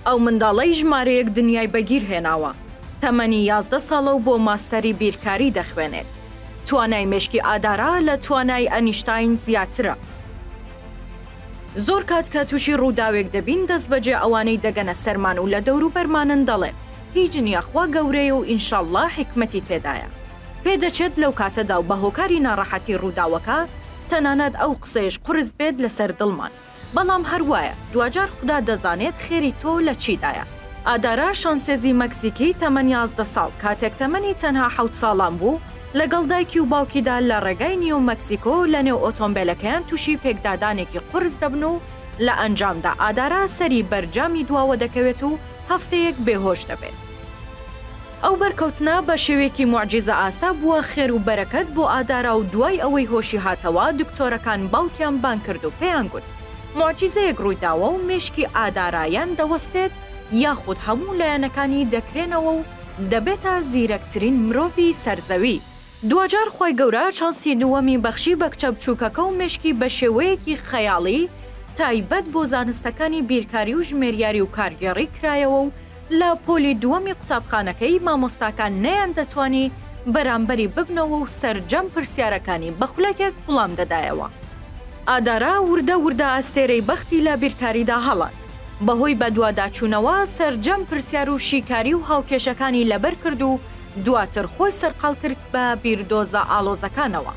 ئەو منداڵەی ژمارەیەک دنیای بەگیر هێناوە، تەمەنی یازدە ساڵە و بۆ ماستەری بیرکاری دەخوێنێت. توانای مێشکی ئادارا لە توانای ئەنیشتاین زیاترە. زۆر کات کە تووشی ڕووداوێک دەبین، دەستبەجێ ئەوانەی دەگەنە سەرمان و لە دەوروبەرمانن دەڵێن، هیچ نییە، خوا گەورەیە و ئینشاڵڵا حیکمەتی تێدایە. پێدەچێت لەو کاتەدا و بە هۆکاری ناڕەحەتی ڕووداوەکە، تەنانەت ئەو قسەیەش قورس بێت لەسەر دڵمان. بەڵام هەر وایە دواجار خودا دەزانێت خێری تۆ لە چیدایە. ئادارا شانسێزی مەکزیکی تەمەن یازدە ساڵ، کاتێک تەمەنی تەنها حەوت ساڵان بوو، لەگەڵ دایکی و باوکیدا لە ڕێگای نیو مەکسیکۆ لەنێو ئۆتۆمبێلەکەیان تووشی پێکدادانێکی قورس دەبن و لە ئەنجامدا ئادارا سەری بەر جامی دواوە دەکەوێت و هەفتەیەک بێهۆش دەبێت. ئەو بەرکەوتنە بە شێوەیەکی موعجیزەئاسا بووە خێر و بەرەکەت بۆ ئادارا و دوای ئەوەی هۆشی هاتەوە دکتۆرەکان باوکیان بانگ کرد و پێیان گوت موعجیزەیەک ڕوویداوە و مێشکی ئادارا یان دەوەستێت یاخود هەموو لایەنەکانی دەکرێنەوە و دەبێتە زیرەکترین مرۆڤی سەر زەوی. دواجار خوای گەورە چانسی دووەمی بەخشی بە کچە بچووکەکە و مێشکی بە شێوەیەکی خەیاڵی تایبەت بۆ زانستەکانی بیرکاری و ژمێریاری و کارگێڕی کرایەوە و لە پۆلی دووەمی قوتابخانەکەی مامۆستاکان نەیاندەتوانی بەرامبەری ببنەوە و سەرجەم پرسیارەکانی بە خولەکێک وڵام دەدایەوە. ئادارا وردە وردە ئەستێرەی بەختی لە بیرکاریدا هەڵات، بەهۆی بەدواداچوونەوە سەرجەم پرسیار و شیکاری و هاوکێشەکانی لەبەر کرد و، دواتر خۆی سەرقاڵ کرد بە بیردۆزە ئاڵۆزەکانەوە.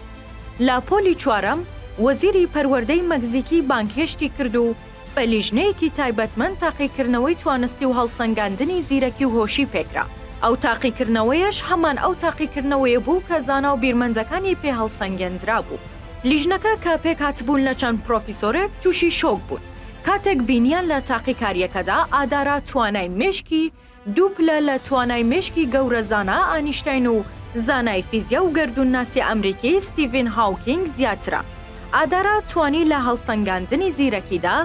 لە پۆلی چوارەم وەزیری پەروەردەی مەکزیکی بانگهێشتی کرد و بە لیژنەیەکی تایبەتمەند تاقیکردنەوەی توانستی و هەڵسەنگاندنی زیرەکی و هۆشی پێکرا. ئەو تاقیکردنەوەیەش هەمان ئەو تاقیکردنەوەیە بوو کە زانا و بیرمەندەکانی پێ هەڵسەنگێندرابوو. لیژنەکە کە پێکهاتبوون لە چەند پرۆفیسۆرێک تووشی شۆک بوون کاتێک بینییان لە تاقیکارییەکەدا ئادارا توانای مێشکی دوو پلە لە توانای مێشکی گەورە زانا ئانیشتاین و زانای فیزیا و گەردوونناسی ئەمریکی ستیڤین هاوکینگ زیاترە. ئادارا توانی لە هەڵسەنگاندنی زیرەکیدا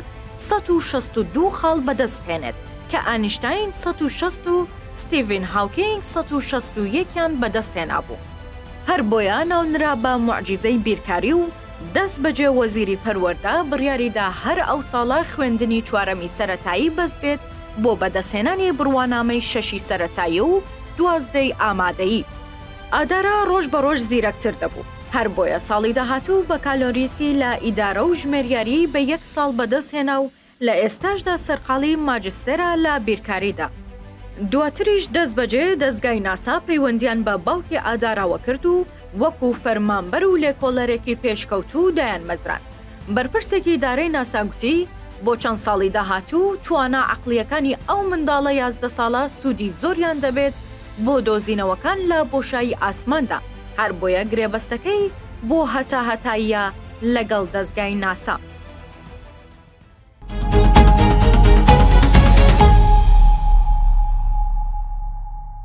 سەد و شەست و دوو خاڵ بەدەست بهێنێت، کە ئانیشتاین سەد و شەست و ستیڤین هاوکینگ سەد و شەست و یەک یان بەدەست هێنابوو. هەر بۆیە ناونرا بە موعجیزەی بیرکاری و دەست بەجێ وەزیری پەروەردە بڕیاریدا هەر ئەو ساڵە خوێندنی چوارەمی سەرەتایی بەس بێت بۆ بەدەستهێنانی بڕوانامەی شەشی سەرەتایی و دوازدەی ئامادەیی. ئادارا ڕۆژ بە ڕۆژ زیرەکتر دەبوو، هەر بۆیە ساڵی داهاتوو بەکالۆریسی لە ئیدارە و ژمێریاریی بە یەک ساڵ بەدەستهێنا و لە ئێستاشدا سەرقاڵی ماجستێرە لە بیرکاریدا. دواتریش دەستبەجێ دەزگای ناسا پەیوەندییان بە باوکی ئاداراوە کرد و، وەکو فەرمانبەر و لێکۆڵەرێکی پێشکەوتوو دایانمەزراند. بەرپرسێکی ئیدارەی ناسا گوتی، بۆ چەند ساڵی داهاتوو توانا عەقڵییەکانی ئەو منداڵە یازدە ساڵە سوودی زۆریان دەبێت بۆ دۆزینەوەکان لە بۆشایی ئاسماندا، هەر بۆیە گرێبەستەکەی بۆ هەتاهەتاییە لەگەڵ دەزگای ناسا.